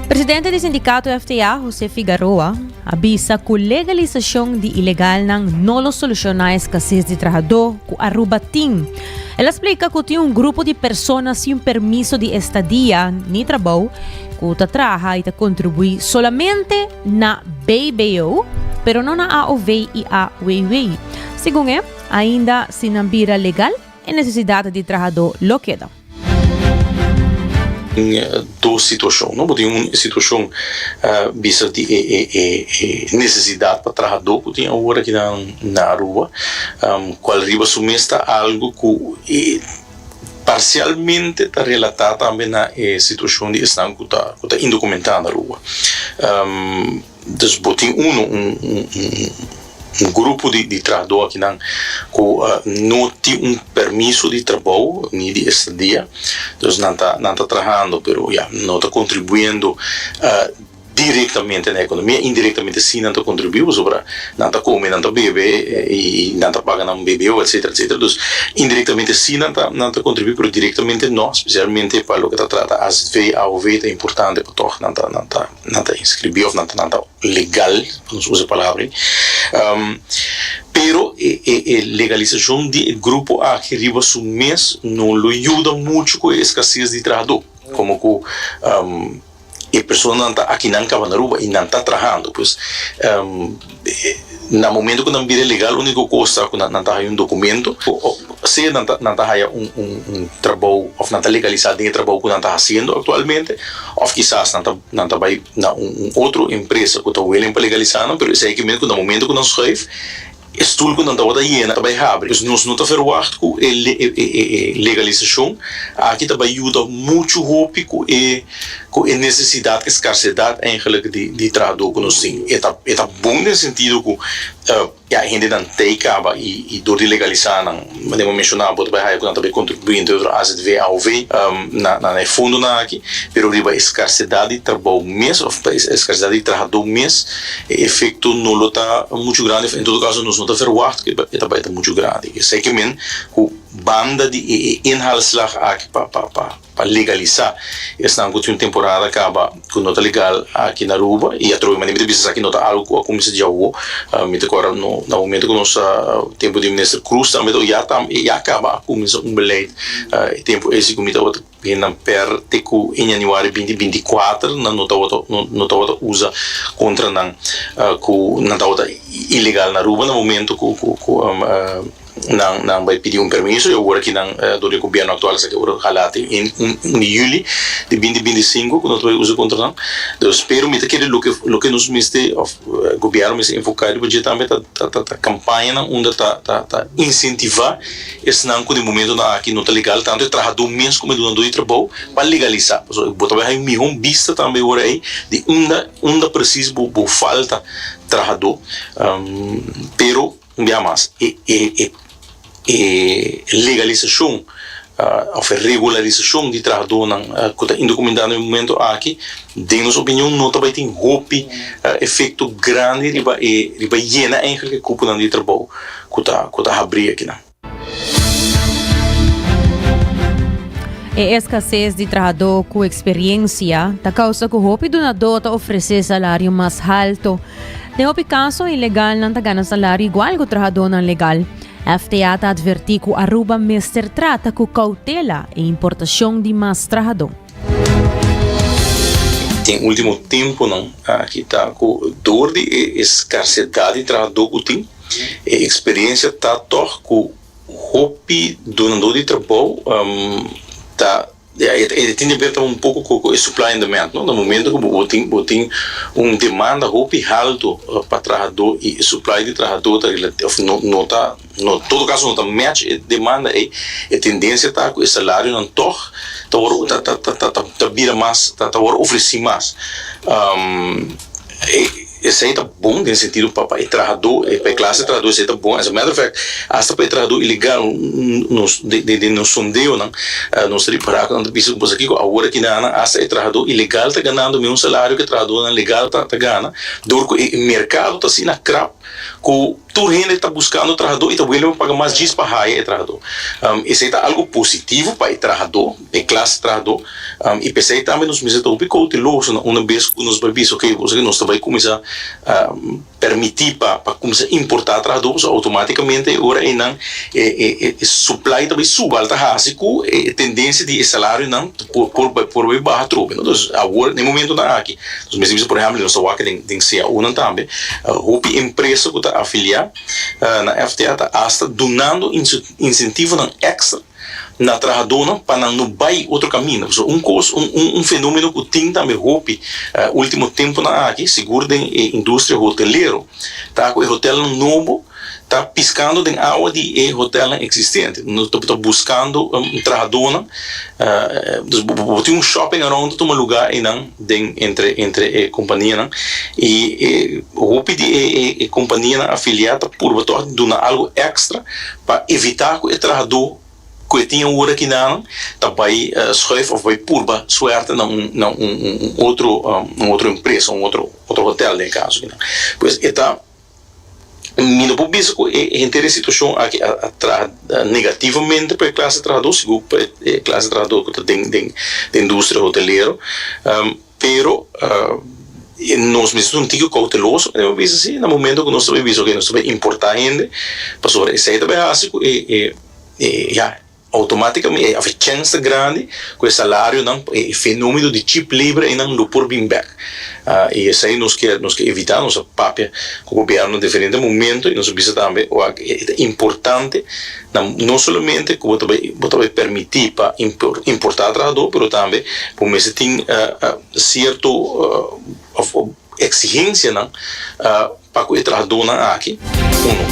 Presidente di Sindikato FTA, Jose Figaroa, a bisa ku legalisashon di ilegalnan no lo solushona e skases di trahadó ku Aruba tin. El a splika ku tin un grupo di persona sin permiso di estadia ni trabou ku ta traha i ta kontribuí solamente na BBO, pero no na AOW i AWW. Segun e. Ainda si nan bira legal, e nesesidat di trahadó lo keda. Tin dos situashon, no? Bo tin un situashon bisa di e nesesidat pa trahadó ku tin awor aki nan na Aruba, kual riba su mes ta algu ku parsialmente ta relatá tambe na e situashon di esnan ku ta indokumentá na Aruba. Dus bo tin un grupo di trahadó akinan ku no tin un permiso di trabou ni di estadia, dus nan ta nan ta trahando pero ya no ta kontribuendo direktamente na ekonomia, indirektamente si nan ta kontribuí pasobra nan ta kome, nan ta bebe i nan ta paga nan BBO etsetera etsetera, dus indirektamente si nan ta nan ta kontribuí pero direktamente no, spesialmente pa loke ta trata AZV, AOV ta importante pa tòg nan ta nan ta. nan ta inscribí of nan nan ta legal pa nos usa e palabra ayi pero e e e legalisacion di e grupo aki riba su mes no lo yuda mucho cu e escases di trahador como cu e personanan ta aki nan cabando Aruba y nan ta trahando pues. Na momento cu nan bira legal unico cosa cu nan ta haya un documento, of sea nan ta nan ta haya un trabou of nan ta legaliza den e trabou cu nan ta haciendo actualmente of kisas nan ta nan ta bay na un un otro empresa cu ta willing pa legaliza nan pero esey aki men cu na momento cu nan schuif e stoel cu nan tabata yena ta bay habri dus nos no ta verwacht cu e e e legalizacion aki ta bay yuda mucho hopi cu e Cu e necesidad, e scarcedad eigenlijk di di trahador cu nos tin. E ta e ta bon den sentido cu ya e hendenan ta e caba y y door di legalisá nan, manera bo menciona, bo ta bay haya cu nan ta bay contribuente di otro azv, aov, na na e fondonan aki, pero riba e scarcedad di trabao mes of pa e scarcedad di trahador mes e efecto no lo ta mucho grandi of en todo caso nos no ta verwacht cu e ta bay ta mucho grandi. Esaki men cu banda di e e inhaalslag aki pa pa pa. pa legalisá esnan ku tin un temporada kaba ku no ta legal aki na Aruba i atrobe manera mi ta bisa esaki no ta algu ku a kuminsá dja awo mi ta kòrda no na momentu ku nos tempu di Minister Cruz tambe ta ya ta ya kaba a kuminsá un beleid e tempu esi ku mi ta wak hendan per te ku en yanüari binti binti kuater nan no tabata no tabata usa kontra nan ku nan tabata ilegal na Aruba na momentu ku ku ku. Nan bai pidi un permiso y ora ki nan dor di e gobierno actual a saca ora hala te un un di juli di binti binti i sinku cu nos ta bai usa contra nan. Entonces pero mi ta kere loke loke nos mester of gobierno mester enfoca riba dje tambe ta ta ta campañanan unda ta ta ta incentiva esnan cu den momentonan aki no ta legal tanto e trahador mes como e dunador di trabao pa legaliza pasobra bo ta bai haña un miho bista tambe ora ey di unda unda precies bo bo falta trahador pero. Un bia mas, e legalisacion of e regularisacion di trahadornan cu ta indocumentá na e momento aki, den nos opinion, no ta bai tin hopi efecto grandi riba e, riba yena eigenlijk e cuponan di trabou cu ta, cu ta habrí akinan. E escasez di trahador cu experiencia ta causa cu hopi dunador ta ofrecé salario mas halto. Den hopi kaso, ilegalnan ta gana salario igual ku trahadónan legal. FTA ta advertí ku Aruba mester trata ku koutela e importashon di mas trahadó. Den último tempunan aki ta ku dor di e eskarsedat di trahadó ku tin, e eksperiensia ta tòg ku hopi dunadó di trabou ta. Ya, e ta tin di ber tambe un poco cu cu e supply and demand, no? Na momento cu bo tin bo tin un demanda hopi halto pa trahador y e supply di trahador ta relati of no no ta no todo caso no ta match e demanda ey, e tendencia ta cu e salarionan tog ta wor ta ta ta ta ta bira mas ta ta wor ofreci mas. Esei ta bon den sentido pa pa e trahadó, e pa e klas di trahadó esei ta bon. As a matter of fact, asta pa e trahadó ilegal nos den den nos sondeonan nos ta repará ku nan ta bisa ku pasakí ku awor aki nan asta e trahadó ilegal ta ganando mes un salario ku e trahadónan legal ta ta gana dor ku e merkado ta asina krap ku Tur hende ta buskando trahadó i ta wili pa paga mas djis pa haya e trahadó. Esei ta algu positivo pa e trahadó, e klas trahadó, i p'esei tambe nos mester ta hopi kouteloso na unda bes ku nos bai bisa, oke, bo sa ke nos ta bai kuminsá permití pa pa kuminsá importá trahadó, pasobra outomátikamente e ora einan e e e supply ta bai suba, lo ta hasi ku e tendensia di e salariunan por por bai baha trobe. Entonces, awor na e momentunan aki Nos mester bisa, por ehèmpel, di nos ta wak den CAUnan tambe, hopi empresa ku ta afiliá na FTA ta asta dunando insentivonan èkstra na trahadónan pa nan no bai otro kaminda. So, un kos, un fenómeno ku tin tambe hopi último tempunan aki, sigur den e industria hotelero, ta ku e hotelnan nobo, Ta piskando den awa di e hotelnan existente. No ta buskando trahadónan. Dus bo tin un shopping around ta tuma lugá einan den entre entre e kompanianan. I e hopi di e e kompanianan afiliá ta purba tòg di duna algu èkstra pa evitá ku e trahadó ku e tin awor aki nanan ta bai schuif òf bai purba suerte na un na un un otro un otro empresa, un otro otro hotel den e kaso akinan. Pues e ta. Mi no por bisa cu e henter e situacion aki a traha negativamente pa e clase trahador, sigur pa e clase trahador cu ta den den e industria hotelero, pero nos mester ta un tiki cauteloso cu nos ta bisa si na momento cu nos ta bay bisa nos ta bay importa hende, pasobra esey ta bay haci cu e ya. Automáticamente e haver chènster grandi cu e salarionan pa e fenómeno di chip libre einan lo por bin bek. Y esei nos ke nos ke evitá, nos a papia cu gobierno na diferente momento y nos a bisa tambe wak e ta importante na no solamente cu bo ta bay bo ta bay permiti pa impor importá trahador pero tambe bo mester tin cierto exigencianan. Pa cu e trahadornan aki, uno.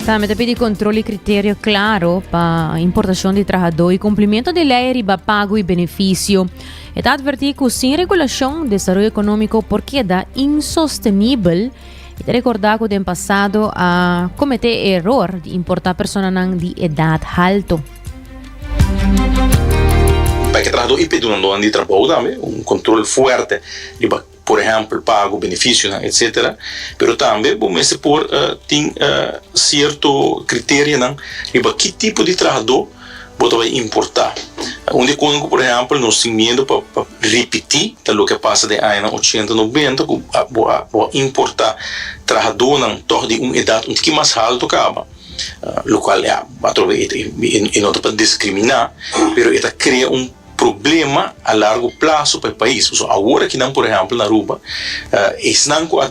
Tambe ta pidi control y criterio claro pa importacion di trahador y cumplimento di ley riba pago y beneficio. E ta adverti cu sin regulacion desaroyo economico por keda insostenibel y ta recorda cu den pasado a comete e error di importa personanan di edad halto. Pa e trahador y perdonandonan di trabou tambe un control fuerte riba por ehèmpel pago benefisionan etcétera, pero tambe bo mester por tin sierto kriterionan riba ki tipo di trahadó bo ta bai importá. Un di e kosanan ku por ehèmpel nos tin miedu pa pa ripití ta loke a pasa den añanan ochenta nobenta ku bo a bo a importá trahadónan tòg di un edat un tiki mas haltu kaba, lokual ya atrobe e no ta pa diskriminá pero e ta krea un. problema a largo plazo pa e pais. Pasobra awor aki nan, por ehèmpel na Aruba, esnan ku a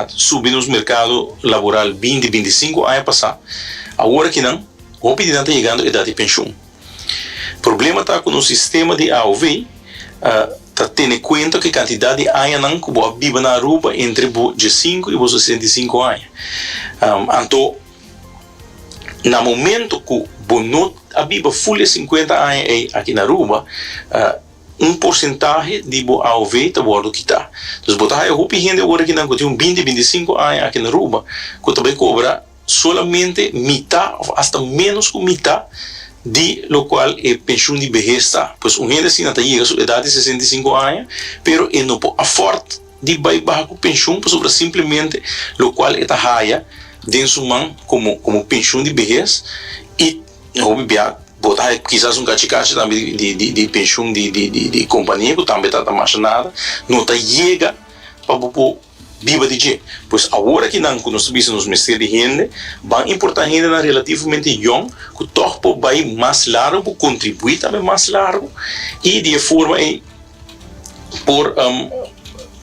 subi nos merkado laboral binti, binti sinku aña pasá, awor aki nan hopi di nan ta yegando edat di penshun. Problema ta ku nos sistema di AOW ta tene kuenta ku e kantidat di añanan ku bo a biba na Aruba entre bo diesinku i bo sesenta i sinku aña. Anto. Na momento cu bo no a biba ful e cincuenta aña ey aki na Aruba, un porcentahe di bo AOV ta wordo kita. Dus bo ta haya hopi hende awor akinan cu tin un binti, binti cinco aña aki na Aruba cu ta bay cobra solamente mita of hasta menos cu mita di locual e pension di behez ta. Pues un hende asina ta yega su edad di sesenta i sinku aña pero e no por afford. di bai baha ku penshun pasobra simplemente lokual e ta haya den su man komo komo penshun di behes i hopi bia bo ta haya kisas un kachi kachi tambe di di di di penshun di di di di kompania ku tambe ta ta masha nada no ta yega pa bo por biba di dje pues awor akinan ku nos ta bisa nos mester di hende ban importan hendenan relativamente yòn ku tòg por bai mas largu por kontribuí tambe mas largu i di e forma ei. Por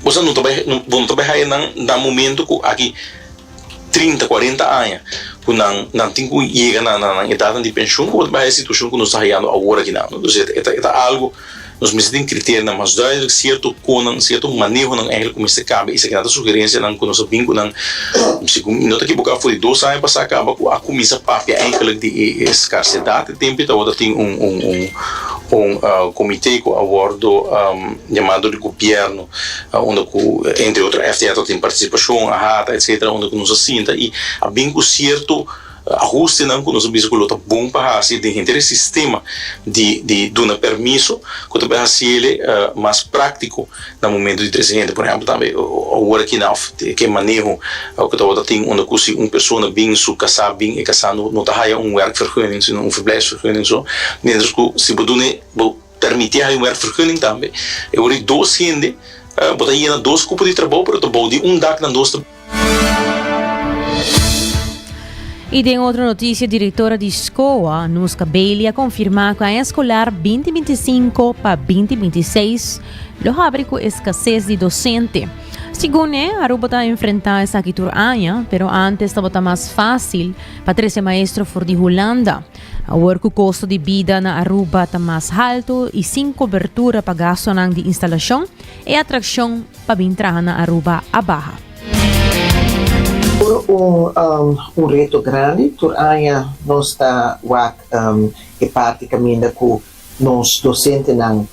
boso no ta bai bo no ta bai haya nan na momento cu aki trinta cuarenta aña cu nan nan tin cu yega na na nan edadnan di pensioen como ta bai haya situacion cu nos ta hayando awor aki nan entonces e ta e ta algo nos mester tin criterinan mas duidelijk cierto conan cierto manehonan eigenlijk cu mester cambia esaki nan ta sugerencianan cu nos a bin cu nan si no ta ekiboca for di dos aña pasa caba cu a cuminsa papia eigenlijk di e e scarcedad Tempe tabata tin un un comite cu a wordo yama dor di gobierno unda cu entre otro FTR ta tin participacion a hata etcetera unda cu nos a sinta y a bin cu cierto ahustenan cu nos a bisa cu lo ta bon pa haci den henter e sistema di di duna permiso cu ta bay haci ele mas practico. na momento di trese hende por ehempel tambe ora ki nan ke maneho oke tabata tin unda ku si un persona bin su kasá bin e kasá no ta haya un werkvergunning sino un verblijfsvergunning so mientras ku si bo dun'e bo permit'e haya un werkvergunning tambe e ora di dos hende bo ta yena dos kupo di trabou pero ta bou di un dak nan dos ta Y den otro noticia, directora di Scoa, Nuska Bailey, a confirma cu aña escolar 2025 pa 2026 lo habri cu escases di docente. Segun ne, Aruba ta enfrenta esaki tur aña, pero antes tabata mas facil pa trece maestro for di Hulanda. Awor cu costo di bida na Aruba ta mas halto y sin cobertura pa gastonan di instalacion, e atraccion pa bin traha na Aruba a baha. Tur un reto grandi, tur aña nos ta wak e parti kaminda ku nos dosentenan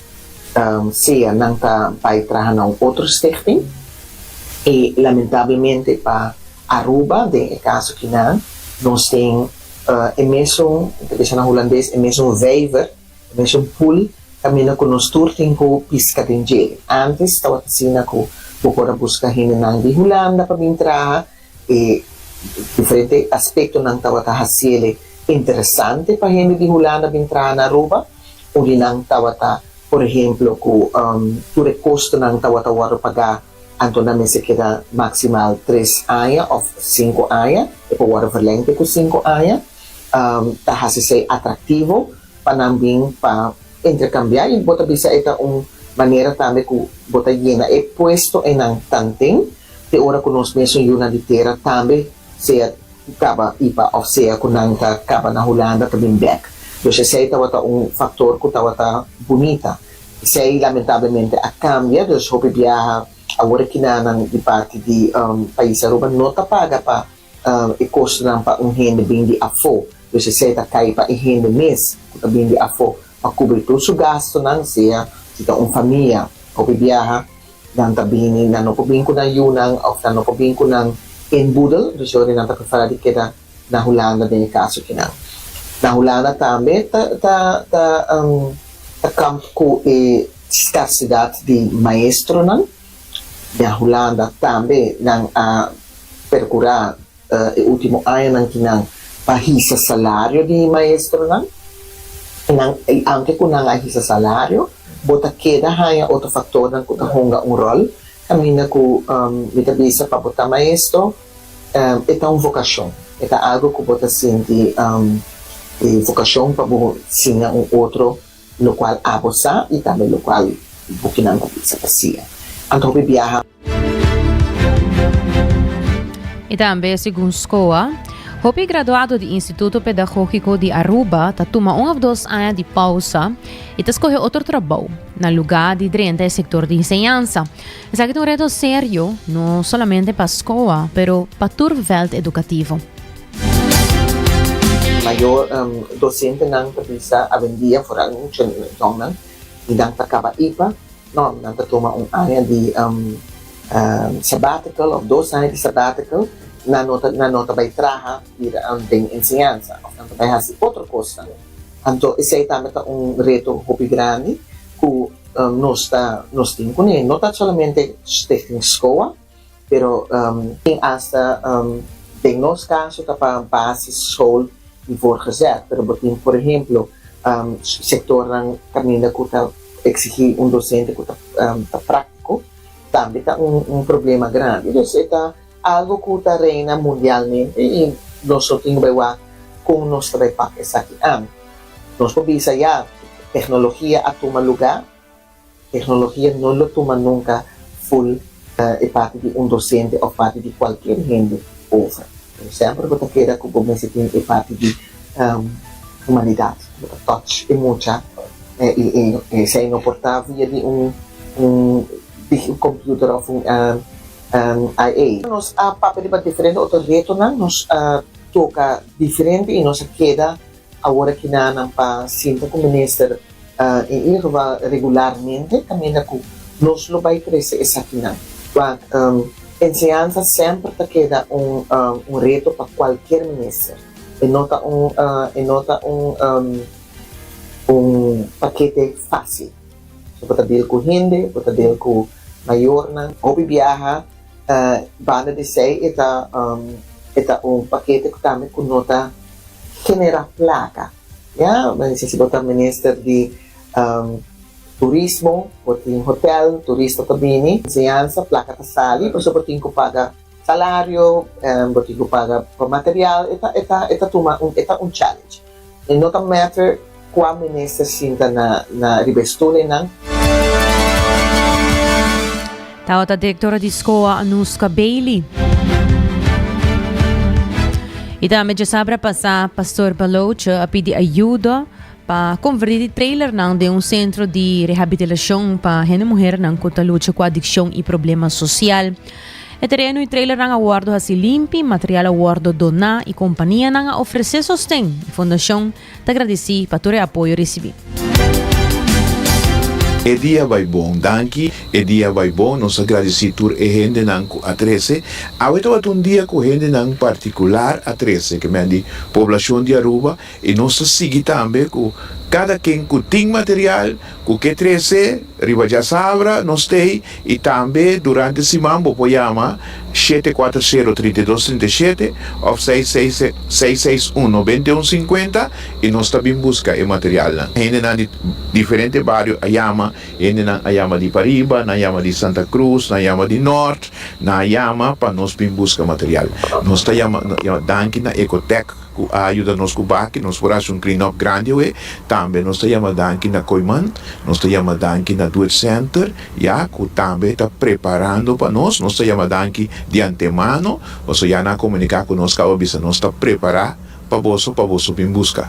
sea nan ta bai traha na un otro stichting i lamentablemente pa Aruba den e kaso kinan nos tin e mesun, ta bisa na hulandes, e mesun vijver Mission Pool ta mina cu nos tur tin cu pisca den djel. Antes tawata asina cu bo por a busca hendenan di Hulanda pa bin traha e diferente aspectonan tawata haciele interesante pa hende di Hulanda bin traha na Aruba urinan tawata por ehemplo cu tur e costonan tawata wordo paga Anto nan mester keda maksimal tres aña òf sinku aña, e por wòrdu verlèng te ku sinku aña. Ta hasi esei atraktivo pa nan bin pa interkambiá i bo ta bisa e ta un manera tambe ku bo ta yena e puesto e nan tan tin te ora ku nos mesun yunan di tera tambe sea kaba i pa òf sea ku nan ta kaba na Hulanda ta bin bèk. Dus esei tabata un faktor ku tabata bunita Esei lamentablemente a kambia, dus hopi biaha awor kinanan di parti di pais Aruba no ta paga pa e kostonan pa un hende bin di afó, dus esei ta kai pa e hende mes ku ta bin di afó pa kubri tur su gastunan, sea si ta un famia. Hopi biaha nan ta bini, nan no por bin ku nan yunan òf nan no por bin ku nan inboedel, dus e ora nan ta preferá di keda. Na Hulanda den e kaso kinan. Na Hulanda tambe ta ta ta ta kamp ku e skarsidat di maestronan. Na Hulanda tambe nan a perkurá e último añanan kinan pa hisa salario di maestronan. Nan i antes ku nan a hisa salario bo ta keda haña otro faktornan ku ta hunga un ròl kaminda ku mi ta bisa pa bo ta maestro. E ta un vokashon. E ta algu ku bo ta sinti e vokashon pa bo siña un otro lokual abo sa i tambe lokual bo kinan ku bisa ta siña. Anto hopi biaha. I tambe segun Scoa, hopi graduado di Instituto Pedagógiko di Aruba ta tuma un òf dos aña di pausa i ta skohe otro trabou na lugá di drenta e sektor di enseñansa. Esaki ta un reto serio, no solamente pa skoa, pero pa tur vèlt edukativo. Mayo dosentenan ta bisa awendia foral mucha dòmnan i nan ta kaba ipa. Nò, nan ta tuma un aña di sabbatical òf dos aña di sabbatical. Nan no ta nan no ta bai traha bira den enseñansa òf nan ta bai hasi otro kosnan. Anto esei tambe ta un reto hopi grandi ku. Nos ta, nos tin cu ne, no ta solamente Stichting Scoa, pero tin hasta, den nos caso ta pa basis school y voorgezet, pero bo tin por ehemplo sectornan caminda cu ta exigi un docente cu ta practico, tambe ta un problema grandi. Algo cu ta reina mundialmente y nos lo tin bay wak con nos ta bay pak esaki an. Nos por bisa ya, tecnologia a tuma lugar, tecnologia no lo tuma nunca full e parti di un docente of parti di cualkier hende over. Semper bo ta keda cu bo mester tin e parti di humanidad, bo ta touch e mucha y esey no por ta via di un computer of un. NIA. Nos a papia riba diferente otro retonan, nos a toca diferente y nos a keda awor aki na nan pa sinta cu minister, en ieder geval regularmente, caminda cu nos lo bay trece esakinan. Enseñanza semper ta keda un reto pa cualkier minister, e no ta un, e no ta un pakete facil. Bo ta deel cu hende, bo ta deel cu mayornan. Hopi biaha banda di esey e ta e ta un pakete cu tambe cu no ta genera placa. Ya, men bisa si bo ta minister di turismo, bo tin hotel, turista ta bini, enseñansa, placa ta sali, pasobra bo tin cu paga. Salario, bo tin cu paga pa material, e ta, e ta, e ta tuma un, e ta un challenge. E no ta matter cua minister sinta na, na riba e stoel eynan. Tabata directora di scoa Anouska Bailey. Y tambe djasabra pasa, Pastor Baloce a pidi ayudo. pa konvertí di trailernan den un sentro di rehabitilashon pa hende muhernan ku ta lucha ku adikshon i problema sosial. E tereno i trailernan a wòrdu hasi limpi, material a wòrdu doná i kompanianan a ofresé sosten. E fondashon ta gradisí pa tur e apoyo risibí. E dia bai bon. Danki, e dia bai bon. Nos a gradisí tur e hendenan ku a trese. Awe tabata un dia ku hendenan partikular a trese, ke men di poblashon di Aruba. I nos ta sigui tambe ku kada ken ku tin material ku ke trese riba djasabra nos tei i tambe durante siman bo por yama shete kuater sero trinta i dos trinta i shete òf seis seis seis seis un noventa i un sinkuenta i nos ta bin buska e materialnan. Hendenan di diferente bario a yama, hendenan a yama di pariba, nan yama di Santa Cruz, nan yama di nòrt, nan a yama pa nos bin buska material. Nos ta yama danki na Ecotec. ku a yuda nos ku baki nos por hasi un klinòp grandi awe. Tambe nos ta yama danki na Koiman, nos ta yama danki na Duet Senter, ya, ku tambe ta preparando pa nos. Nos ta yama danki di antemano, pasobra ya nan a komuniká ku nos, kaba bisa nos ta prepará pa boso, pa boso bin buska.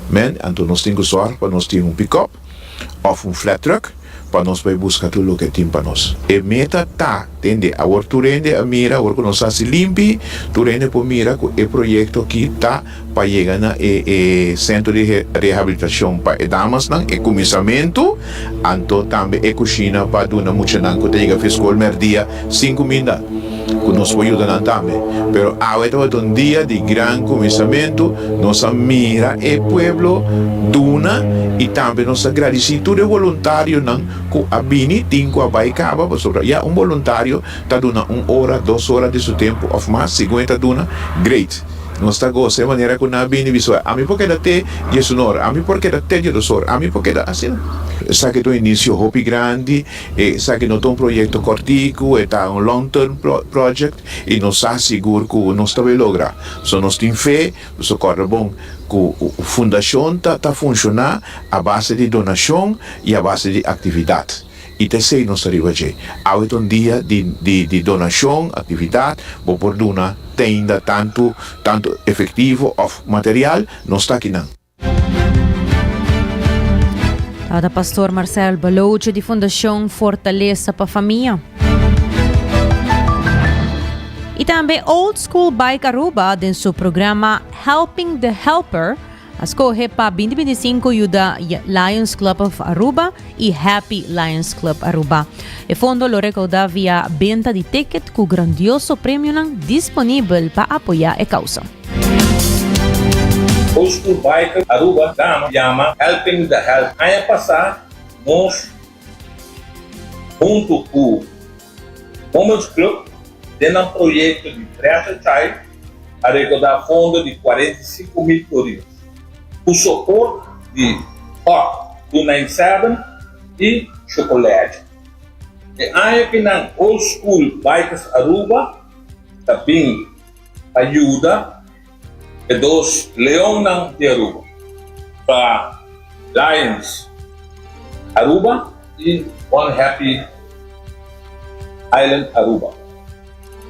Mèn. Anto nos tin ku sòrg pa nos tin un pikòp òf un flat truck. Pa nos bai buska tur loke e tin pa nos. E meta ta, tende, awor tur hende a mira, awor ku nos hasi limpi, tur hende por mira ku e proyekto aki ta pa yega na e e sentro di rehabilitashon pa e damasnan, e kuminsamentu, anto tambe e kushina pa duna muchanan ku ta yega fi skol mèrdia Sin cuminda cu nos por yuda nan tambe. Pero awe tabata un dia di gran cuminsamentu, nos a mira e pueblo duna y tambe nos a gradici tur e voluntarionan cu a bini tin cu a bay caba pasobra ya un voluntario ta duna un ora, dos ora di su tempo of mas, si Gwen ta duna, great. Nos ta goza e manera cu nan a bini bisa bay, ami por keda te diesunor, ami por keda te diedosor, ami por keda asina. Esaki ta un inicio hopi grandi. Esaki no ta un proyekto kòrtiku, e ta un long-term project i nos sa sigur ku nos ta bai logra. So nos tin fe, nos a kòrda bon ku fundashon ta ta funshoná a base di donashon i a base di aktividat i ta esei nos ta riba dje. Awe ta un dia di di di donashon, aktividat, bo por duna tenda tantu tantu efektivo òf material, nos ta akinan. Tabata Pastor Marcel Baloce di Fundacion Fortaleza pa Famia. Y tambe Old School Bike Aruba den su programa Helping the Helper a scoge pa 2025 yuda Lions Club of Aruba y Happy Lions Club Aruba. E fondo lo recauda via benta di ticket cu grandioso premionan disponibel pa apoya e causa. Old School Biker Aruba Dama yama Helping with the Health. Aña pasá nos huntu ku. Momo's Club den nan proyecto di Treasure Child a rekoda fondo di cuarenta y cinco mil curios cu soport di Hot two nine seven y Chocolege. E aña ki nan Old School Bikers Aruba ta bin pa yuda. E dos leonnan di Aruba ta Lions Aruba i One Happy Island Aruba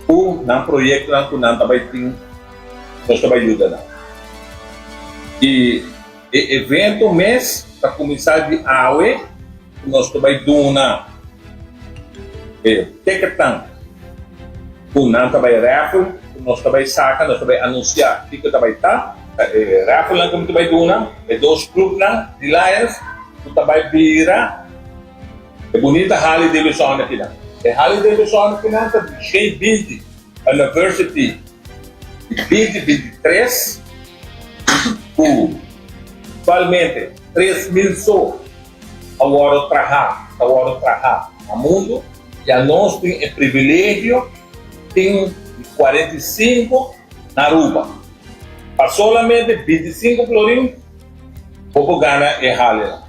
ku nan proyektonan ku nan ta bai tin nos ta bai yuda nan. I e evento mes ta kuminsá di awe ku nos ta bai duna e tèketnan. Ku nan ta bai raffle ku nos ta bai saka, nos ta bai anunsiá kiko ta bai ta. E rafflenan ku mi ta bai duna e dos klupnan di Lions ku ta bai bira e bunita Harley Davidsonnan kinan. E Harley Davidsonnan kinan ta di Shane Binti University di Binti Binti Tres ku aktualmente tres mil so. Ta wòrdu trahá, ta wòrdu trahá. Na mundu ya nos tin e privilegio tin di kuarenta i sinku na Aruba. Pa solamente binti i sinku florin bo por gana e hale la.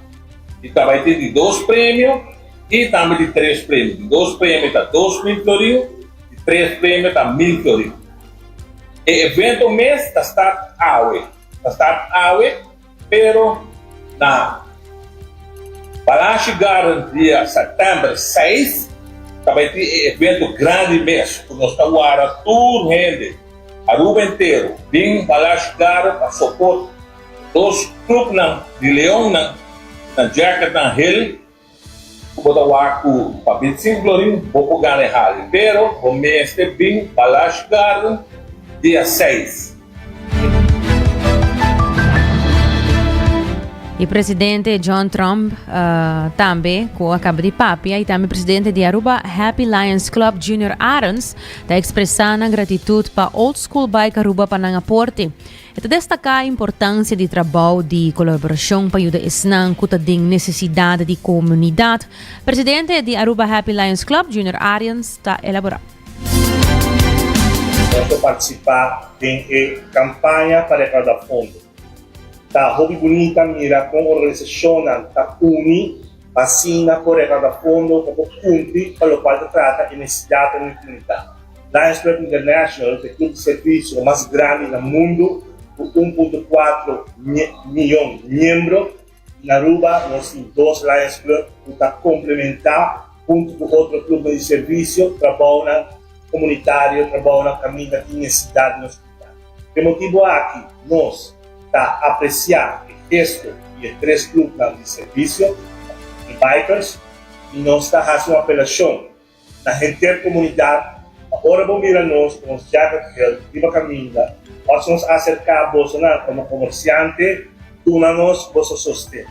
I ta bai tin di dos premio i tambe di tres premio. Di dos premio ta dos mil florin, di tres premio ta mil florin. E evento mes ta start awe, ta start awe. Pero na Palacio Garden dia September seis ta bai tin e evento grandi mes cu nos ta wara tur hende Aruba entero bin Palacio Garden pa soport dos clubnan di Leonnan na Jackernan Hill. Ku bo ta wak ku pa Bitsin Glorin bo por gana e hali, pero bo mester bin Balash Garden dia seis. E presidente John Trump tambe ku a kaba di papia i tambe presidente di Aruba Happy Lions Club Junior Arons ta ekspresá nan gratitut pa Old School Bike Aruba pa nan aporte. E ta destaká e importansia di trabou di kolaborashon pa yuda esnan ku ta den nesesidat di komunidat. Presidente di Aruba Happy Lions Club, Junior Arians, ta elaborá. Nos ta partisipá den e kampaña pa rekaudá fondo. Ta hopi bunita mira kon organisashonnan ta uni pa asina por rekaudá fondo pa por kumpli pa lokual ta trata e nesesidatnan di komunidat. Lions Club International ta e club di servicio mas grandi na mundo cu un punto cuatro miyon miembro. Na Aruba nos tin dos Lions Club cu ta complementa hunto cu otro clubnan di servicio trabounan comunitario, trabounan caminda tin necesidad di nos comunidad. P'e motibo aki nos ta aprecia e gesto di e tres clubnan di servicio, di Vipers, y nos ta haci un apelacion. Na Heter Komunidat, ora bo mira nos ku nos jaga geld riba kaminda òf si nos aserká bosonan kòm komersiante, duna nos boso sosten.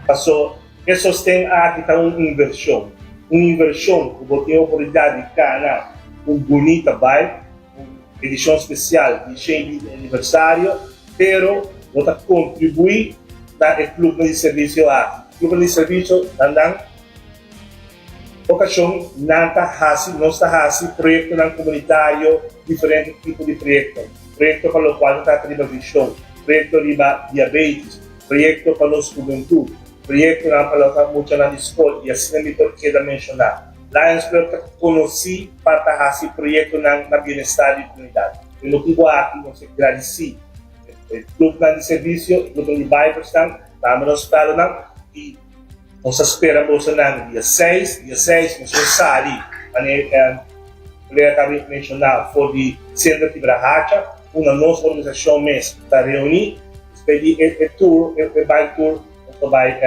Pasó, e sosten aki ta un invershon, un invershon ku bo tin oportunidat di gana un bunita bai, un edishon spesial di shen di aniversario, pero bo ta kontribuí na e klubnan di servisio aki. Klubnan di servisio ta nan. Okashon nan ta hasi, nos ta hasi proyektonan komunitario, diferente tipo di proyekto, proyekto pa lokual ta trata riba vishon, proyekto riba diabetis, proyekto pa nos hubentud, proyektonan pa lòk muchanan di skol i asina mi por keda menshoná. Lions Club ta konosí pa ta hasi proyektonan na bienestar di komunidat. P'e motibu aki nos e gradisí e grupnan di servisio, e grupnan di Bijbelstan, ta amba nos spèlnan i. Nos a spera boso nan dia seis, dia seis nos lo sali manera e colega ta menciona for di Centro Kibra Hacha unda nos organisacion mes ta reuni, despues di e tour, e bike tour nos lo bay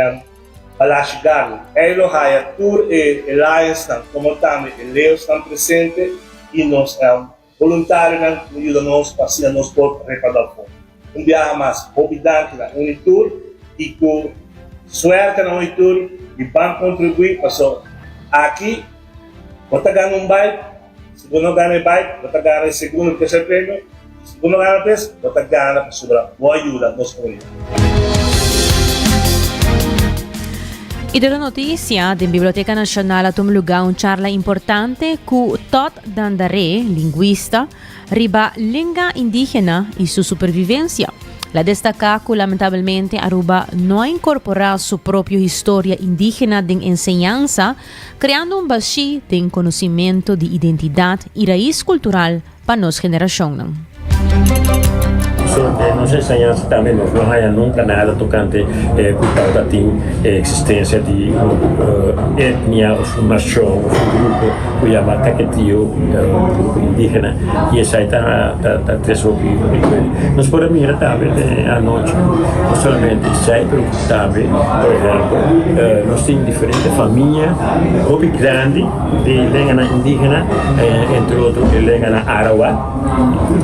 Balashi Garden, ey lo haya tur e lionsnan como tambe e leosnan presente y nos. Boluntarionan lo yuda nos pa asina nos por repardá un fondo. Un biaha mas, hopi danki na uni tur i ku suerte na uni tur mi ban kontribuí paso aki bo ta gana un bike, si bo no gana e bike bo ta gana e segundo o terser premio i si bo no gana pues bo ta gana pasobra bo a yuda nos komunidad. I tur e notisia den Biblioteka Nashonal a tuma lugá un charla importante ku Todd Dandaré, lingwista, riba lenga indígena i su supervivensia. La destaká ku lamentabelmente Aruba no a inkorporá su propio historia indígena den enseñansa, kreando un bashí den konosimentu di identidat i rais kultural pa nos generashonnan. So, nos enseñansa tambe nos no haña nunka nada tokante ku tabatin e eksistensia di un etnia òf un nashon òf un grupo ku yama Kaketio, grupo indígena, i esei ta ta tres hopi inkwel. Nos por a mira tambe anochi ku no solamente esei pero tambe, por ehèmpel, nos tin diferente famia hopi grandi, di lenganan indígena, entre otro e lenganan arawak,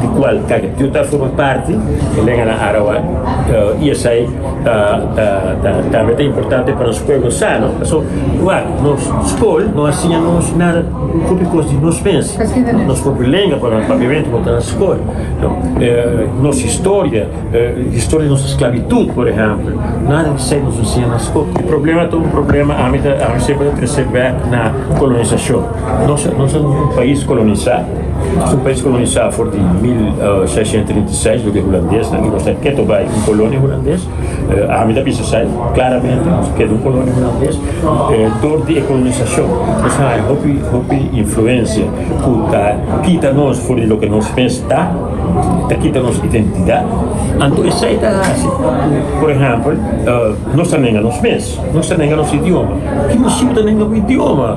di cual Caquepiu ta forma parti, e lenganan arawak, uh, y esai ta, ta, ta, tambe ta importante pa nos pueblo sano. So, wak, nos school no a siña nos nada, un hopi cos di nos mes, nos propio lenga, pasobra papiamento no ta na school, no, eh, nos historia, Historia di nos esclavitud, por ehempel, nada di esey nos enseña na scol. E problema ta un problema, ami ta, ami semper ta trece bek na colonisacion. Nos, nos ta un pais colonisa, nos ta un pais colonisa for di mil seiscientos treinta y seis, lo di e hulandesnan, y nos ta keto bay un colonia hulandes, ami ta bisa esey claramente, nos ta keto un colonia hulandes, dor di e colonisacion nos ta haya hopi, hopi influencia cu ta kita nos for di loke nos mes ta. ta kita nos identidad, anto esai ta haci cu, por ehempel, nos ta nenga nos mes, nos ta nenga nos idioma. Ki mester si bo ta nenga bo idioma?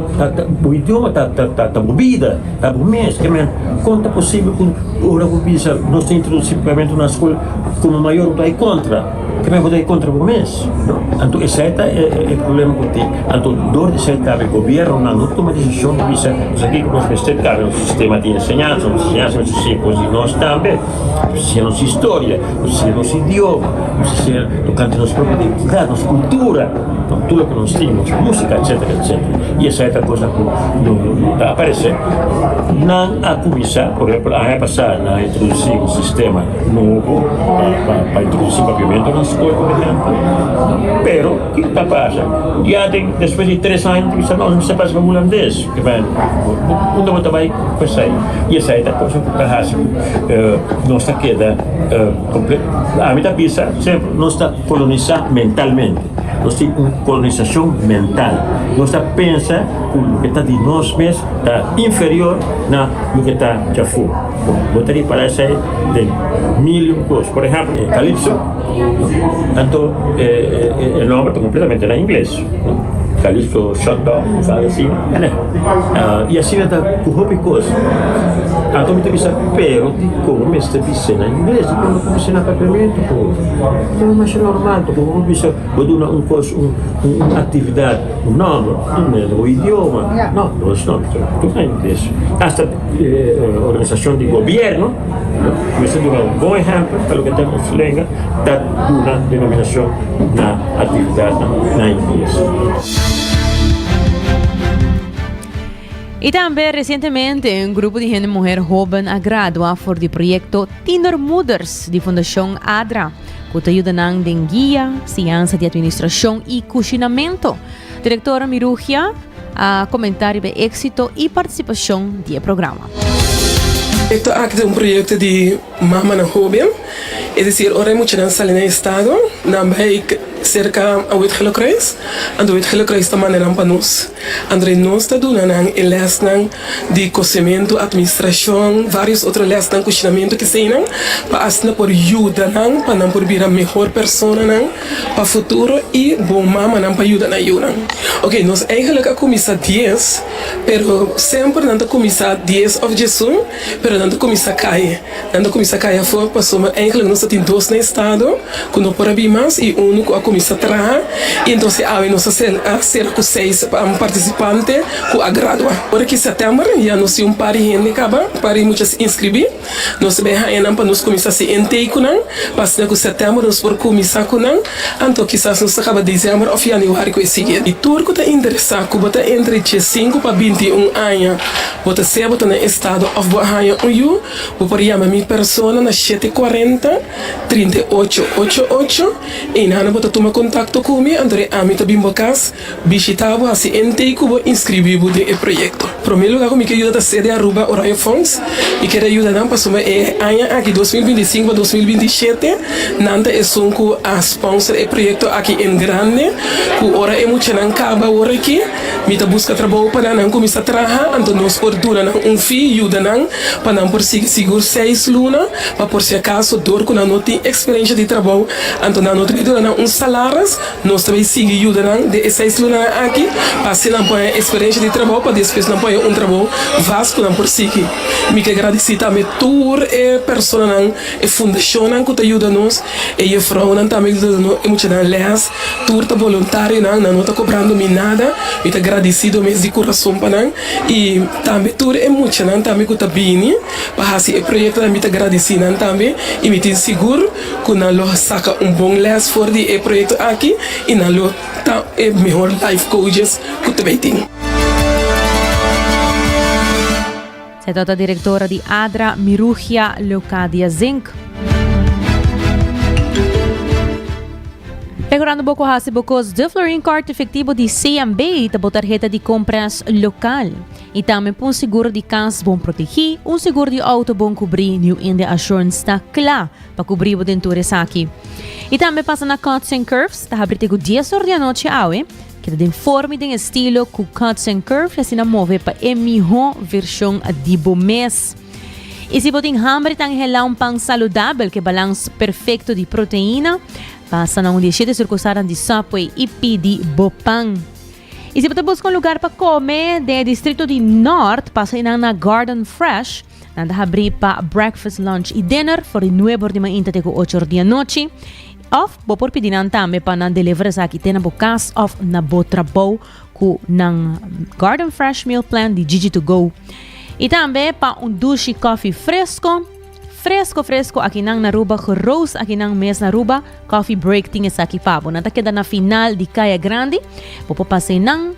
Bo idioma ta bo bida, ta bo mes. Kemen, con ta posible cu ora bo bisa nos ta introduci Parlamento na scol, como mayor bo ta bay contra? Primer ku ta e kontra bo mes, no? Anto esei ta e, e, e problema ku tin. Anto dor di esei tabe gobierno nan no tuma desishon pa bisa kusa kiko nos mester kabe nos sistema di enseñansa, nos enseñansa mester siña kos di nos tambe, mester siña nos historia, mester siña nos idioma, mester siña tokante nos propio identidat, nos kultura, no? Tur loke nos tin, nos musika, etsetera, etsetera. I esei ta kosnan ku no, no, no ta aparesé. Nan a kuminsá, por ehèmpel, aña pasá nan a introdusí un sistema. nobo pa introduci papiamento na scol por ehempel pero kiko ta pasa ya den despues di tres aña bo ta bisa nos mi sa pasa cu hulandes unda bo ta bay cu esai y esai ta cosa cu ta haci cu nos ta keda comple ami ta bisa sempel nos ta colonisa mentalmente nos tin un colonisacion mental nos ta pensa cu loke ta di nos mes ta inferior na loke ta djafo. Bo ta ripará esei den mil un kos. Por ehèmpel, calypso, anto e nòmber ta kompletamente na ingles, calypso shut down, kusas asina, nè? I asina ta ku hopi kos. Anto mi ta bisa, pero dikon bo mester bis'é na ingles? Dikon no ku bis'é na Papiamento po? Bo ta masha normal pa kiko bo bisa bo duna un kos, un aktividat, un nòmber, nò mester bo idioma. Nò, bo no snorta, tur na ingles. Hasta. organisacion di gobierno mester a duna bon ehempel pa loke ta den nos lenga ta duna denominacion na actividadnan na ingles. Y tambe recientemente un grupo di hende muher hoben a gradua for di proyecto Tienermoeders di Fundacion ADRA, cu ta yuda nan den guia, siansa di administracion y cushinamento. Direktor Mirugia a komentá riba e éksito i partisipashon di e programa. Proyekto aki ta un proyekto di mamanan hóben, es desir ora e muchanan sali na e estado, nan bai serka Awet Gillekruis, anto Awet Gillekruis ta manda nan pa nos, anto de nos ta duna nan e lèsnan di kosementu, atministrashon, vários otro lèsnan, kushinamentu, keseinan, pa asina por yuda nan pa nan por bira mehor personanan pa futuro i bon mamanan pa yuda nan yunan. Oke, nos eigenlik a kuminsá dies, pero semper nan ta kuminsá dies òf djesun, pero nan ta kuminsá kai. Nan ta kuminsá kai afó pasobra eigenlik nos ta tin dos na estado ku no por a bin mas i unu ku a kuminsá traha. I enton si awe nos a sera ku seis partisipante ku a gradua. Ora ki sètèmber ya nos tin un par di hende kaba, un par di mucha a inskribí. Nos ta bay haña nan pa nos cuminsa haci intake cu nan, pa asina cu september nos por cuminsa cu nan, anto kisas nos ta caba diciember of januari cu e siguiente. Y tur cu ta interesa cu bo ta entre diescinco pa bintiun aña, bo ta sea bo ta na estado of bo a haña un yu, bo por yama mi persona na shete cuarenta, trinta y ocho, ocho, ocho. Enanan bo ta tuma contacto cu mi, anto de ami ta bin bo cas. Bishita bo hasiente ku bo inskribí bo den e proyekto. Promé lugá ku mi ke yuda ta CD Aruba Oranje Fonds. Mi kere yuda nan pasobra e aña aki dos mil binti i sinku pa dos mil binti i shete nan ta esun ku a spònser e proyekto aki en grande ku ora e muchanan kaba wor aki mi ta buska trabou pa nan nan kuminsá traha anto nos por duna nan un fi yuda nan pa nan por sigui sigur seis luna pa por si akaso dor ku nan no tin eksperensha di trabou anto nan no ta bin duna nan un salaris Nos ta bay sigui yuda nan den e seis lunanan aki pa haci nan por haya experiencia di trabao pa despues nan por haya un trabao vast cu nan por sigui. Mi ke gradici tambe tur e personanan, e fundacionnan cu ta yuda nos, e jefrounan tambe cu ta duna nos e muchanan les, tur ta boluntarionan, nan no ta cobrando mi nada, mi ta gradicido mes di curason pa nan y tambe tur e muchanan tambe cu ta bini pa haci e proyectonan mi ta gradici nan tambe y mi tin sigur cu nan lo saca un bon les for di e proyecto aki y nan lo ta e mehor life coaches cu ta bay tin. Se ta ta directora di ADRA, Mirugia Leocadia Zink. Mehorando bo cu haci bo cos. Duflorin Card Efectivo di CMB ta bo tarheta di compras local. I tambe pa un sigur di kas bon protegí, un sigur di outo bon kubrí New India Assurance ta kla pa kubrí bo den tur esaki. I tambe pasa na Cuts and Curves, ta habri tegu dies or di anochi awe, keda den forma i den estilo ku Cuts and Curves i asina move pa e mihó vershon di bo mes. I si bo tin hamber ta anhelá un pan saludabel ku e balans perfekto di proteina, pasa na un di e shete surkusalnan di Subway i pidi bo pan. Y si bo ta busca un lugar pa come den e distrito di Nort, pasa y nan na Garden Fresh. Nan ta habri pa breakfast, lunch y dinner for di nuebe or di mainta te cu ocho or di anochi. Of bo por pidi nan tambe pa nan deliver esaki te na bo cas of na bo trabou cu nan Garden Fresh Meal Plan di Jiji To Go. Y tambe pa un dushi coffee fresco. Fresco fresco akinan na Aruba Gerose akinan mes na Aruba Coffee Break tin esaki pa bo Nan ta keda na final di Kaya Grandi Bo por pas'e nan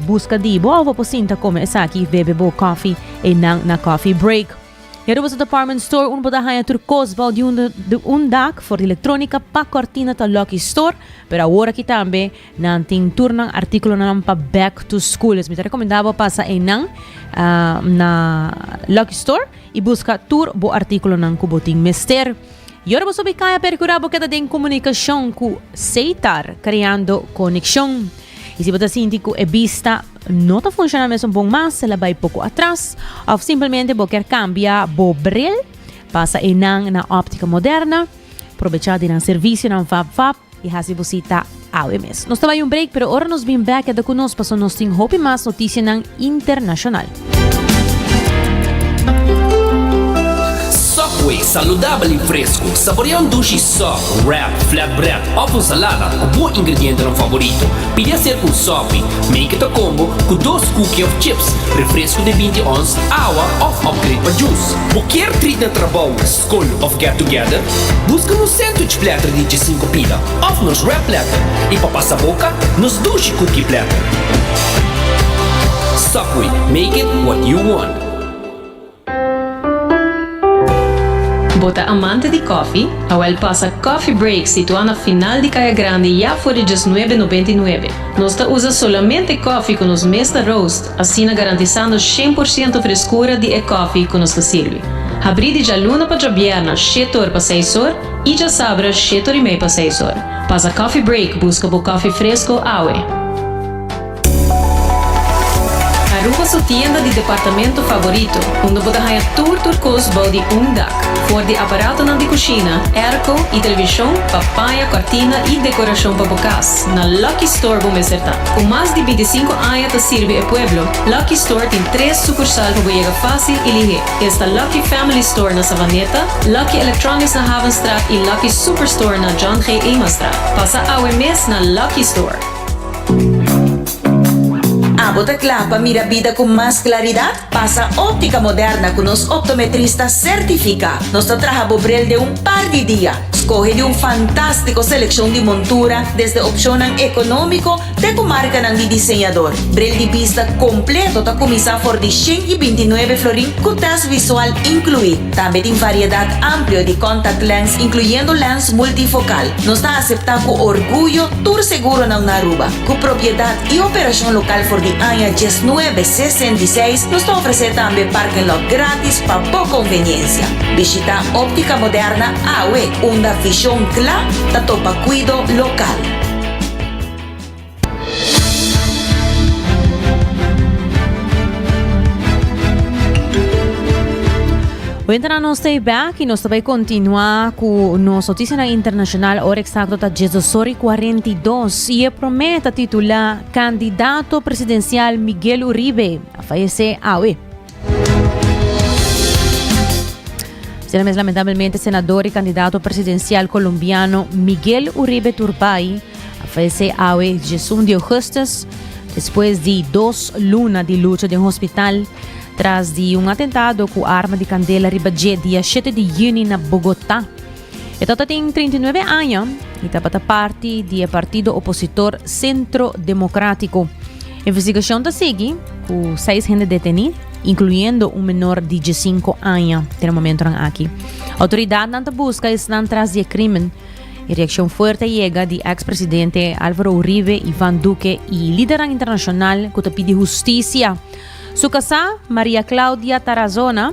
buska di bo of bo por sinta kome esaki bebe bo kofi e nan na Coffee Break E Aruba's Department Store un bo ta haña tur kos bou di un dak for di electronica pa kortina ta Lucky Store pero awor aki tambe Nan tin tur nan artíkulonan pa Back to School. Es mi ta rekomendá bo pasa einan na Lucky Store i buska tur bo artíkulonan ku bo tin mester. I ora bo so bai kaya Perkurá bo keda den komunikashon ku Seitar Kreando Konekshon. I si bo ta sinti ku e bista no ta funshoná mesun bon mas, el a bai poko atras, òf simplemente bo ker kambia bo bril, pasa einan na Óptica Moderna. Probechá di nan servisionan fap fap. y haci bo cita awe mes. Nos ta bay un break pero ora nos bin back keda cu nos paso nos tin hopi mas noticianan internacional. Subway, saludabel y fresco. Saborea un dushi sub, wrap, flatbread of un salada cu bo ingredientenan favorito. Pidi hacer cu un subie, make it a combo, cu dos cookie of chips, refresco de binti ons, awa of upgrade pa juice. Bo kier treat na trabou, School of Get Together, buska nos sandwich platter di djesinku pida òf nos wrap platter i pa pasa boka nos dushi cookie platter. Subway, make it what you want. Bo ta amante di kòfi? Awèl pasa Coffee Break situá na final di Kaya Grande ya for di djesnuebe nobenta i nuebe. Nos ta usa solamente kòfi ku nos mes ta roast. Asina garantisando shen por ciento freskura di e kòfi ku nos ta sirbi. Habrí di djaluna pa djabièrna shete or pa seis or i djasabra shete or i mei pa seis or. Pasa Coffee Break buska bo kòfi fresko awe. Aruba su tienda di departamento favorito, unda bo ta haña tur tur kos bou di un dak. For di aparatonan di kushina, airco i televishon, pa paña kòrtina i dekorashon pa bo kas, na Lucky Store bo mester ta. Ku mas di bintisinko aña ta sirbi e pueblo, Lucky Store tin tres sukursal pa bo yega fásil i lihé. Esta Lucky Family Store na Savaneta, Lucky Electronics na Havenstraat i Lucky Superstore na John G. Emanstraat. Pasa awe mes na Lucky Store. Abo ta kla pa mira bida ku mas klaridat? Basa óptica moderna cu nos optometrista certifica, nos ta traha bo bril den un par di dia. Scoge di un fantastico seleccion di montura, desde opcionnan economico te cu marcanan di diseñador. Bril di bista completo ta cuminsa for di shen y binti nuebe florin cu test visual inclui. Tambe tin variedad amplio di contact lens incluyendo lens multifocal. Nos ta acepta cu orguyo tur seguronan na Aruba cu propiedad. y operacion local for di aña diesnuebe sesenta y seis, nos ta ofrece tambe parking lot gratis pa bo conveniencia. Bishita Optica Moderna awe, unda vision cla ta topa cuido local. Wenternan nos ta e bek y nos ta bay continua cu nos noticianan internacional. Ora exacto ta diesdosory cuarenta y dos. Si e promé ta titulá Kandidato Presidensial Miguel Uribe a fayesé awe. Asina mes lamentabelmente senador i kandidato presidensial kolombiano Miguel Uribe Turbay a fayesé awe djesun di ougustus despues di dos luna di lucha den hospital tras di un atentado ku arma di kandela riba dje dia shete di yüni na Bogotá. E tata tin trinta i nuebe aña i tabata parti di e partido opositor Centro Democratico. Investigashon ta sigui ku seis hende detení, inkluyendo un menor di diesinko aña den e momentonan aki. Outoridatnan ta buska esnan tras di e krimen. E reakshon fuerte a yega di èks presidente Álvaro Uribe, Iván Duque i lidernan internashonal ku ta pidi hustisia. Su kasá, María Claudia Tarazona,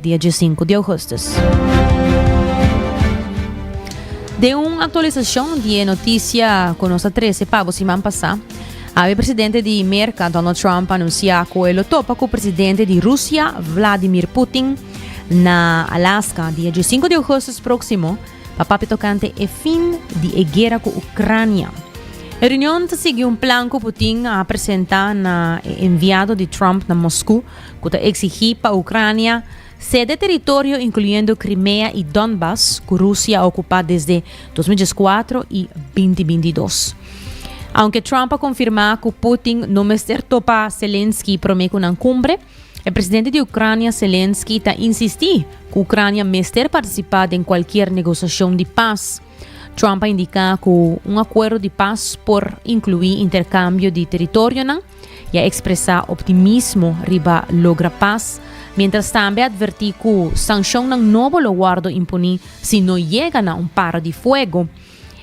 dia dje sinku di ougustus. Den un aktualisashon di e notisia ku nos a trese pa bo siman pasá, awe presidente di Merka, Donald Trump, a anunsiá ku e lo topa ku presidente di Rusia, Vladimir Putin, na Alaska dia dje sinku di ougustus próksimo pa papia tokante e fin di e guera ku Ucrania. E reunion ta sigui un plan ku Putin a presentá na e enviado di Trump na Moskou, ku ta eksigí pa Ucrania sede teritorio inkluyendo Crimea i Donbas ku Rusia a okupá desde dos mil dieskuatro i binti binti dos. Aunke Trump a konfirmá ku Putin no mester topa Zelensky promé ku nan kumbre, e presidente di Ucrania Zelensky ta insistí ku Ucrania mester partisipá den kualkier negosashon di pas. Trump a indiká ku un akuerdo di pas por inkluí interkambio di teritorionan, I a ekspresá optimismo riba logra pas, miéntras tambe a atvertí ku sanshonnan nobo lo wòrdu imponí si no yega na un para di fuego.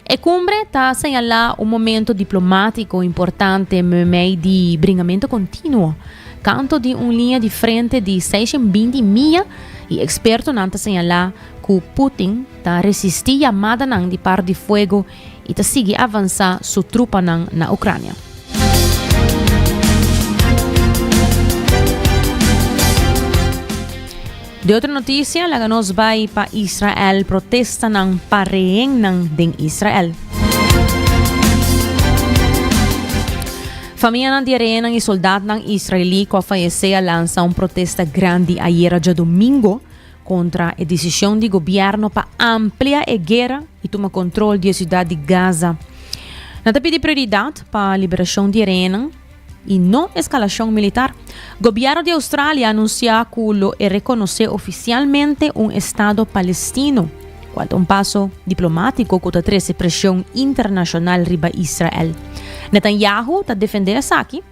E kumbre ta señalá un momentu diplomátiko importante meimei di bringamentu kontinuo, kantu di un liña di frente di seishon binti mia i ekspertonan ta señalá ku Putin ta resistí yamadanan di para di fuego i ta sigui avansá su trupanan na Ucrania. De otro noticia, laga nos bai pa Israel, protestanan pa rehennan den Israel. Famianan di e rehennan i soldadnan israelí cu a fayecé a lansa un protesta grandi ayera djadomingo kontra e desishon di gobièrnu pa amplia e guera i tuma kontrol di e siudat di Gaza. Nan ta pidi prioridat pa liberashon di e rehénan i no eskalashon militar. Gobièrnu di Australia a anunsiá ku lo e rekonosé ofisialmente un estado palestino, kual ta un paso diplomátiko ku ta trese preshon internashonal riba Israel. Netanyahu ta defendé esaki.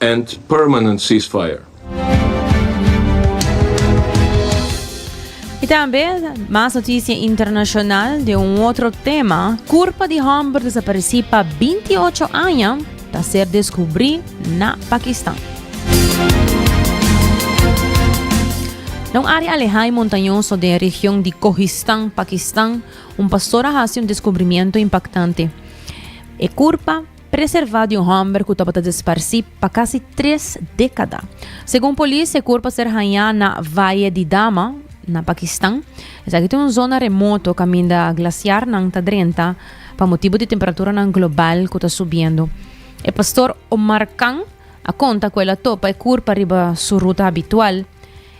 and permanent ceasefire. I tambe mas noticia internacional den un otro tema, curpa di homber desapareci pa binti ocho aña ta ser descubri na Pakistan. Na un area aleha y montañoso den region di Kohistan, Pakistan, un pastor a haci un descubrimiento impactante. E curpa preservá di un hòmber ku tabata desparsí pa kasi tres dékada. Segun polis, e kurpa ser hañá na Valle di Dama, na Pakistan. Esaki ta un zona remoto kaminda glasiarnan ta drenta pa motibu di temperaturanan global ku ta subiendo. E pastor Omar Khan a konta ku el a topa e kurpa riba su ruta habitual.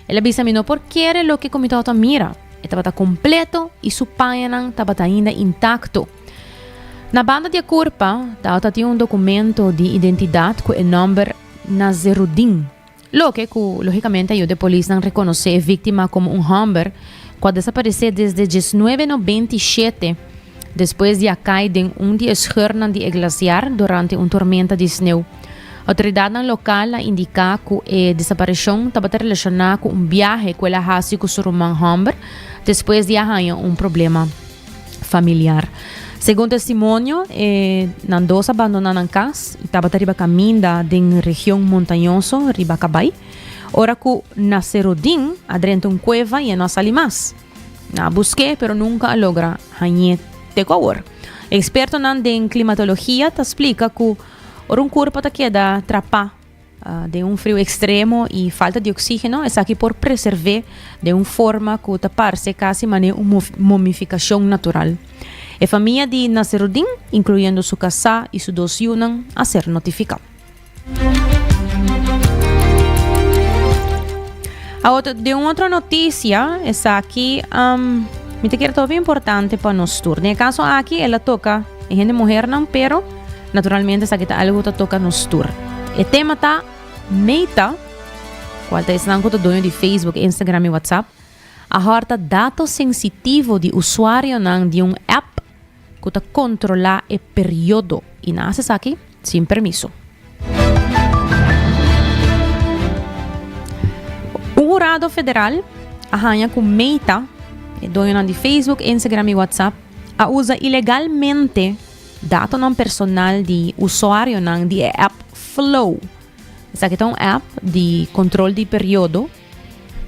El a bisa, Mi no por kere loke ku mi tabata mira. E tabata kompleto i su pañanan tabata ainda intakto. Na banda di e kurpa ta tin un dokumento di identidat ku e nòmber Nazerudin, loke ku lógikamente a yuda e polisnan rekonosé e víktima komo un hòmber ku a desaparesé desde dieznuebe de nobenta i shete despues di a kai den un di e skörnan di e glasiar durante un tormenta di sneu. Outoridatnan lokal a indiká ku e desapareshon tabata relashoná ku un biahe ku el a hasi ku su ruman hòmber despues di a haña un problema. familiar. Segun testimonio, e nan dos a bandona nan cas y tabata riba caminda den region montañoso riba cabai, ora cu na Serodin a drenta un cueva y e no a sali mas. Nan a busque, pero nunca a logra hañe te cu awor. Expertonan den climatologia ta splica cu ora un curpo ta keda trapa, Den un friu ekstremo i falta di oksígeno, esaki por preservé den un forma ku ta parse kasi manera un momifikashon natural. E famia di Nasseruddin, inkluyendo su kasá i su dos yunan, a ser notifiká. Den un otro notisia, esaki mi ta kere ta hopi importante pa nos tur. Den e kaso aki el a toka e hende muhernan, pero. Naturalmente esaki ta algo ku ta toka nos tur. E tema ta Meta, kual ta esnan ku ta doño di Facebook, Instagram i WhatsApp, a hòrta dato sensitivo di usuarionan di un app ku ta kontrolá e periodo i nan a hasi esaki sin permiso. Un hurado federal a haña ku Meta, e doñonan di Facebook, Instagram i WhatsApp, a usa ilegalmente Datonan personal di usuarionan di e app Flow. Esaki ta un app di control di periodo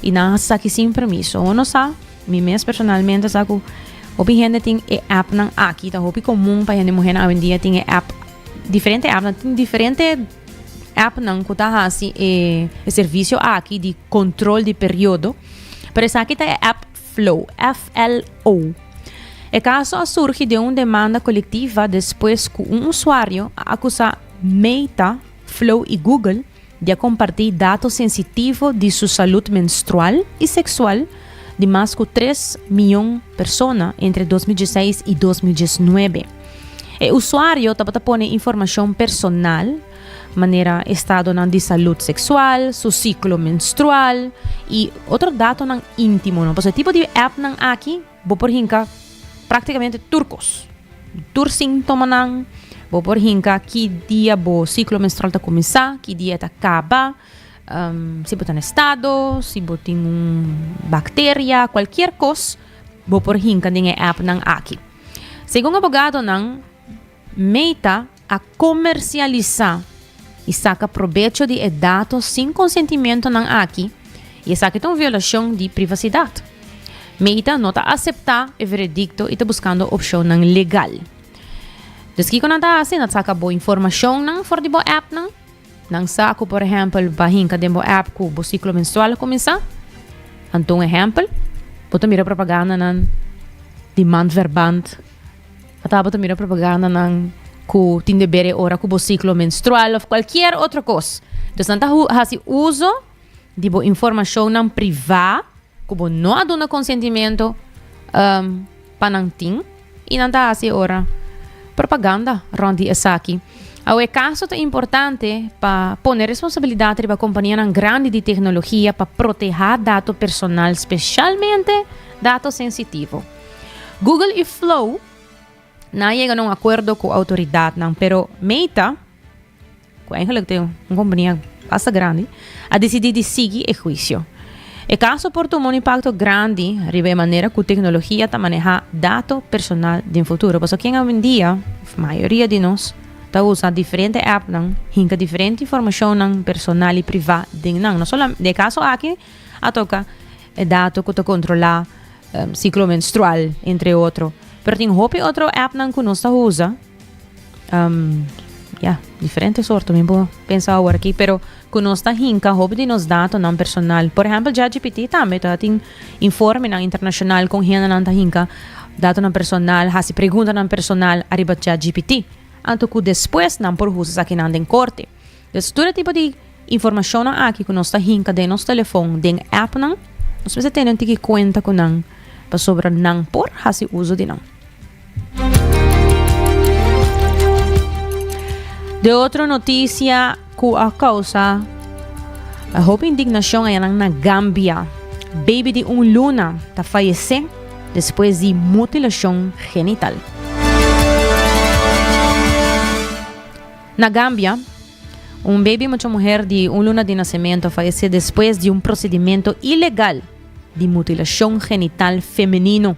y nan a saki sin permiso. Hopi no sa, mi mes personalmente sa cu hopi hende tin e appnan aki. Ta hopi comun pa hende muhernan awendia tin e app, diferente appnan. Tin diferente appnan cu ta haci e servicio aki di control di periodo. Pero esaki ta e app. Flow, FLO. E kaso a surgi den un demanda kolektiva despues ku un usuario a akusá Meta, Flow i Google di a kompartí dato sensitivo di su salut menstrual i seksual di mas ku tres mion persona entre dos mil dieseis i dos mil diesnuebe. E usuario tabata pone informashon personal, manera estadonan di salud seksual, su siklo menstrual i otro datonan intimonan. Pasobra e tipo di appnan aki bo por hinka praktikamente tur kos, tur sintomanan, bo por hinka ki dia bo siklo menstrual ta kuminsá, ki dia e ta kaba, si bo ta na estado, si bo tin un bakteria, kualkier kos bo por hinka den e appnan aki. Segun abogadonan. Meta a komersialisá i saka probecho di e dato sin konsentimentonan aki i esaki ta un violashon di privasidat. Meta no ta aseptá e veredikto i ta buskando opshonnan legal. Dus kiko nan ta hasi? Nan ta saka bo informashonnan for di bo èpnan. Nan sa ku por ehèmpel pa hinka den bo èp ku bo siklo menstrual a kuminsá. Nan ta un ehèmpel. Bo ta mira propagandanan di mand ver band. A tabata mira propagandanan ku tin deber e ora ku bo siklo menstrual òf kualkier otro kos. Entonces nan ta hasi uso di bo informashonnan privá ku bo no a duna konsentimento um, pa nan tin i nan ta hasi e ora propaganda rònt di esaki. Awe e kaso ta importante pa pone responsabilidat riba kompanianan grandi di teknologia pa protehá dato personal, spesialmente dato sensitivo. Google i Flow na a yega na un akuerdo ku outoridatnan, pero Meta, ku eigenlijk ta un kompania basta grandi, a desidí di sigui e huisio. E kaso por tuma un impakto grandi riba e manera ku teknologia ta manehá dato personal den futuro. Pasobra ken awendia, òf mayoria di nos, ta usa diferente èpnan, hinka diferente informashonnan personal i privá den nan? No solam-, den e kaso aki a toka. E dato ku ta kontrolá siklo menstrual, entre otro. Pero tin hopi otro appnan ku nos ta usa. Um, ya, diferente sorto, mi bo pensa awor aki, pero ku nos ta hinka hopi di nos datonan personal. Por ehempel, ChatGPT tambe ta tin informenan internashonal kon hendenan ta hinka datonan personal, hasi preguntanan personal ariba ChatGPT. Anto ku despues nan por usa esakinan den korte. Des tur e tipo di informashonnan aki ku nos ta hinka den nos telefon, den appnan, nos mester tene un tiki kuenta ku nan pasobra nan por hasi uso di nan. De otro noticia ku a causa a hopi indignashon ayanan na Gambia. Baby di un luna ta fayese despues di mutilashon genital. Na Gambia, un bebi mucha muher di un luna di nasementu a falesé despues di un prosedimento ilegal di mutilashon genital femenino.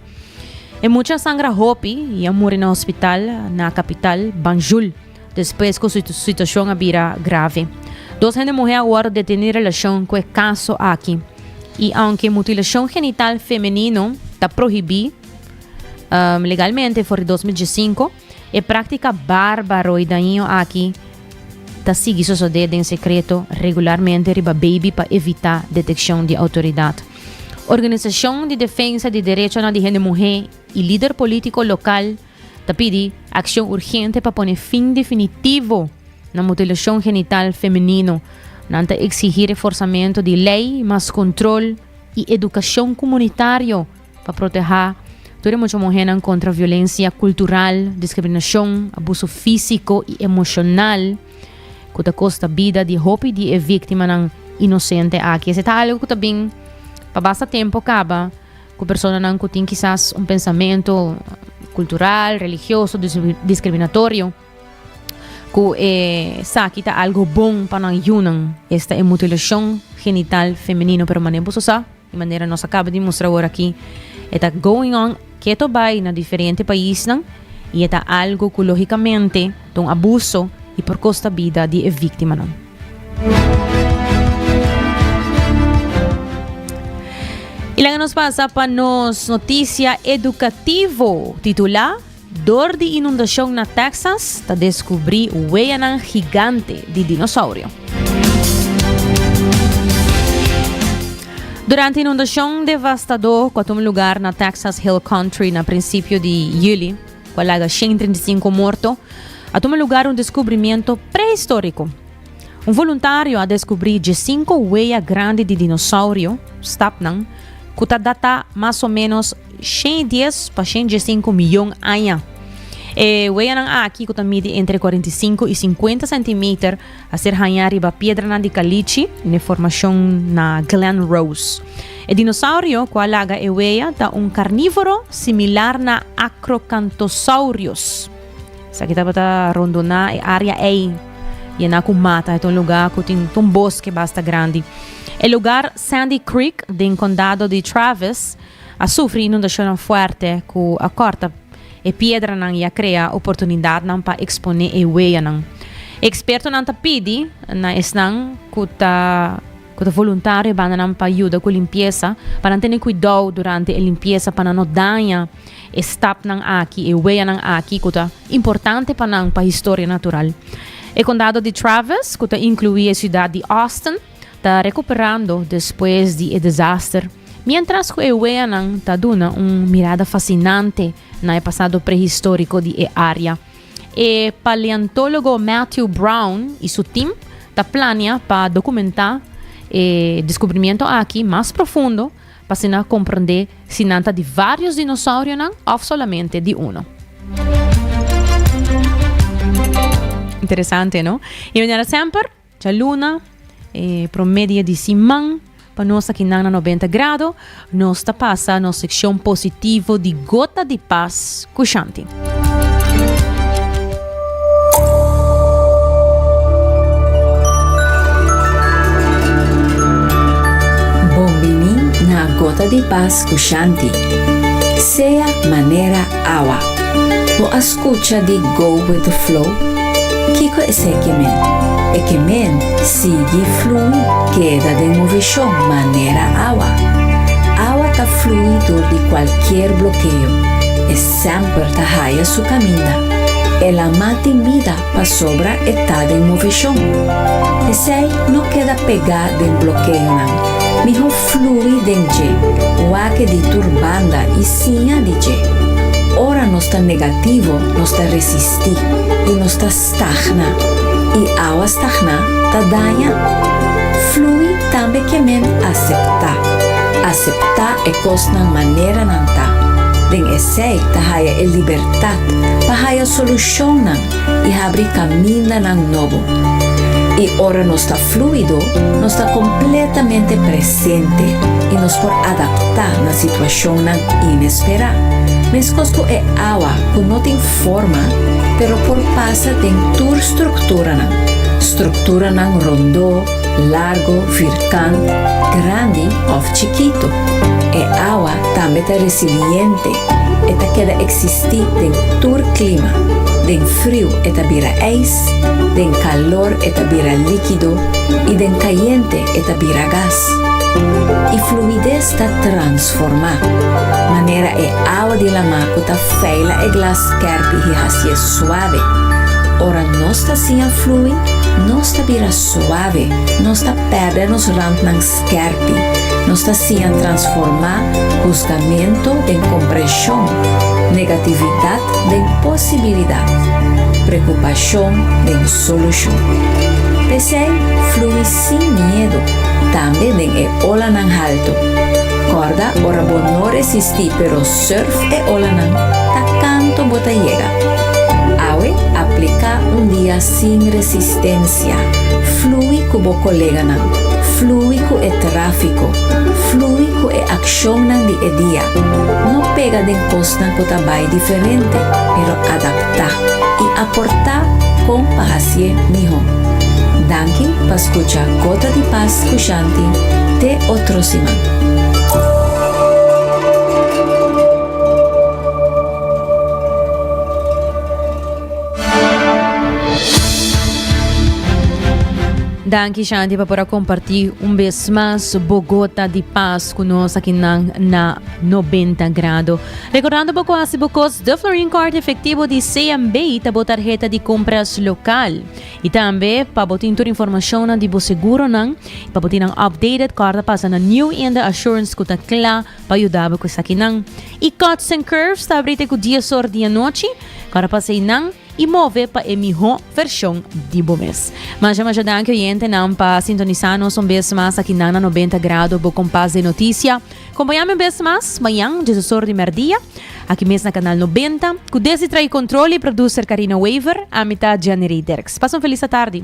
E mucha a sangra hopi i a muri na hospital na kapital, Banjul, despues ku su situashon a bira grave. Dos hende muhé a wòrdu detení relashon ku e kaso aki. I aunke mutilashon genital femenino ta prohibí legalmente for di dos mil diesinko, E práktika bárbaro i dañino aki ta sigui sosodé den sekreto regularmente riba beibi pa evitá detekshon di outoridat. Organisashon di defensa di derechonan di hende muhé i lider polítiko lokal ta pidi akshon urgente pa pone fin definitivo na mutilashon genital femenino. Nan ta eksigí reforsamentu di lei, mas kontrol i edukashon kumunitario Pa proteha tur e mucha muhénan kontra violensia kultural, diskriminashon, abuso físiko i emoshonal ku ta kosta bida di hopi di e víktimanan inosente aki. Esei ta algu ku ta bin pa basta tempu kaba ku personanan ku tin kisas un pensamentu kultural, religioso, diskriminatorio ku esaki ta algu bon pa nan yunan. Esta e mutilashon genital femenino, pero mane'e buso sa. Di manera nos a kaba di mustra awor aki, e ta going on keto bai na diferente paisnan i e ta algu ku lógikamente ta un abuso i por kosta bida di e víktimanan. I laga nos pasa pa nos notisia edukativo titulá. Dor di inundashon na Texas ta deskubrí weyanan gigante di dinosaurio. Durante inundashon devastadó ku a tuma lugar na Texas Hill Country na prinsipio di Yuli, ku a laga 135 morto, a tuma lugar un deskubrimiento prehistóriko. Un voluntario a descubri djesinco wea grandi di dinosaurio, stapnan, cu ta data mas o menos shen i dies pa shen i djesinco miyon aña. E weanan aki, cu ta midi entre cuarenta i cinco i cincuenta centimeter, a ser haña riba piedranan di calichi n'e formacion na Glen Rose. E dinosaurio cu a laga e wea ta un carnivoro similar na acrocanthosaurios. Esaki tabata rondoná e área ei yená ku mata. E ta un lugá ku tin ta un boske basta grandi. E lugar Sandy Creek den kondado di Travis a sufri inundashonnan fuerte ku a kòrta e piedranan i a krea oportunidatnan pa eksponé e weyanan. Ekspertonan ta pidi na esnan ku ta. ku ta voluntario e bandanan pa yuda ku limpiesa, pa nan tene kuidou durante e limpiesa pa nan no daña e stapnan aki, e weyanan aki ku ta importante pa nan pa historia natural. E kondado di Travis, ku ta inkluí e siudat di Austin, ta rekuperando despues di e desaster, miéntras ku e weyanan ta duna un mirada fasinante na e pasado prehistóriko di e área. E paleontologo Matthew Brown y su team ta planea pa documenta e descubrimiento aki mas profundo pa asina comprende si nan ta di varios dinosaurionan of solamente di uno. Interesante, no? Y manera semper, Djaluna, E promé dia di siman pa nos aki nan na Nobenta Grado, nos ta pasa nos sekshon positivo di Gota di Pas ku Shanti. Bon bini na Gota di Pas ku Shanti. Sea manera Awa, bo a scucha di Go With The Flow? Kico eseki men? E ke men sigui flui keda den movishon manera awa. Awa ta flui dor di cualkier blokeo, e semper ta haya su caminda. E lama tin bida pasobra e ta den movishon. Pesey no keda pega den blokeonan, miho Flui den dje, wak di tur banda i siña di dje. Ora nos ta negativo nos ta resistí i nos ta stagná, i awa stagná ta daña. Flui tambe ke men aseptá, aseptá e kosnan manera nan ta. Den esei ta haya e libertat pa haya solushonnan i habri kamindanan nobo. I ora nos ta flúido, nos ta kompletamente presente i nos por adaptá na situashonnan inesperá, meskos ku e awa ku no tin forma pero por pasa den tur strukturanan, strukturanan rondó, largo, virkant, grandi òf chikitu. E awa tambe ta resiliente E ta keda eksistí den tur klima, den friu e ta bira ijs, den kalor e ta bira líkido i den kayente e ta bira gas. E fluides ta transformá, manera e awa di lamá ku ta feila e glas kèrpi hi hasié suave. Ora nos ta siña flui, nos ta bira suave, nos ta pèrdè nos rantnan. Skerpi, Nos ta siña transformá husgamentu den komprenshon, negatividat den posibilidat, preokupashon den solushon. P'esei, flui sin miedu, tambe den e olanan haltu. Kòrda ora bo no resistí pero surf e olanan ta kantu bo ta yega. Awe apliká un dia Sin resistencia. Flui cu bo coleganan. Flui cu e trafico. Flui cu e accionnan di e dia. No pega den cosnan cu ta bay diferente, pero adapta y aporta con pa haci'e miho. Danki pa scucha Gota di Paz cu Shanti te otro siman. Danki Shanti pa por a kompartí un bes mas bo gota di pas ku nos aki nan na Nobenta Grado. Rekordando bo ku hasi bo kos The Florin Card efektivo di CMB ta bo tarheta di kompras lokal. I tambe pa bo tin tur informashonnan di bo seguronan i pa bo tin nan updated kòrda pasa na New Inde Assurance ku ta kla pa yudabo cu esakinan. Y Cuts and Curves ta abri te cu dies or di anochi, cora pa haci nan y move pa e miho version di bo mes. Masha masha danki oyentenan pa sintonisa nos un bes mas aki nan na Noventa Grado bo compas de noticia. Compaña mi un bes mas mañan dies or di merdia aki mes na Canal Noventa cu desdi trae control y producer Carina Wever, ami ta Giannery Derks. Pasa un feliz atardi.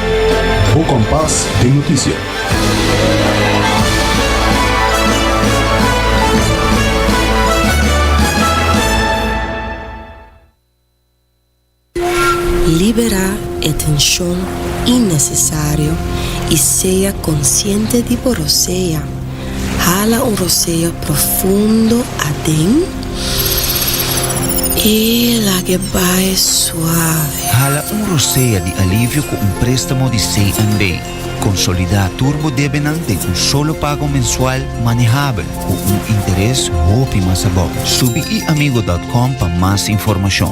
Bo kompas den notisia. Libera e tenshon innesesario i sea konsiente di bo rosea. Hala un roseo profundo aden i laga e bai suave. Hala un rosea di alivio ku un préstamo di CNB. Konsolidá tur bo debenan den un solo pago mensual manehabel ku un interes hopi mas abou. Subi eAmigo dòt kòm pa mas informashon.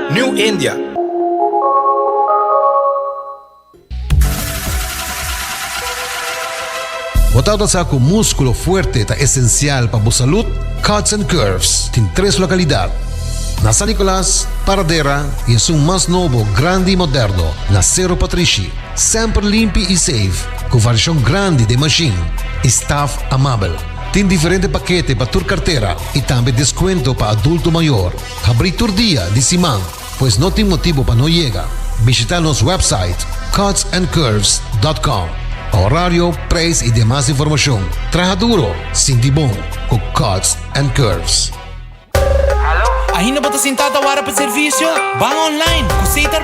New India. Bo ta nosa cu musculo fuerte ta esencial pa bo salud? Cuts and Curves tin tres localidad, na San Nicolas, Paradera y esun mas nobo, grandi y moderno, na Cerro Patrishi. Semper limpi y safe, cu variacion grandi den machine y staff amabel. Tin diferente pakete pa tur cartera y tambe descuento pa adulto mayor. Habrí tur dia di siman, pues no tin motibu pa no yega. Bishita nos wèpsait cutsandcurves.com pa horario, preis i demas informashon. Traha duro, sinti bon ku Cuts and Curves. Ainda bo ta sintá ta wara pa servisio? Ban online! Ku Setar.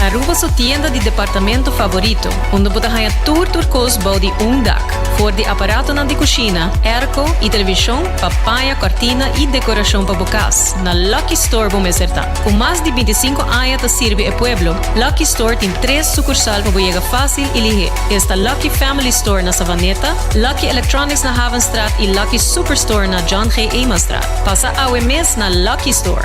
Aruba su tienda di departamento favorito, unda bo ta haña tur tur kos bou di un dak, for di aparatonan di kushina, airco i televishon pa paña kòrtina i dekorashon pa bo kas, na Lucky Store bo mester ta. Ku mas di binti sinku aña ta sirbi e pueblo, Lucky Store tin tres sukursal pa bo yega fásil i lihé. Esta Lucky Family Store na Savaneta, Lucky Electronics na Havenstraat i Lucky Superstore na John G. Eemanstraat. Pasa awe mes na Lucky Store!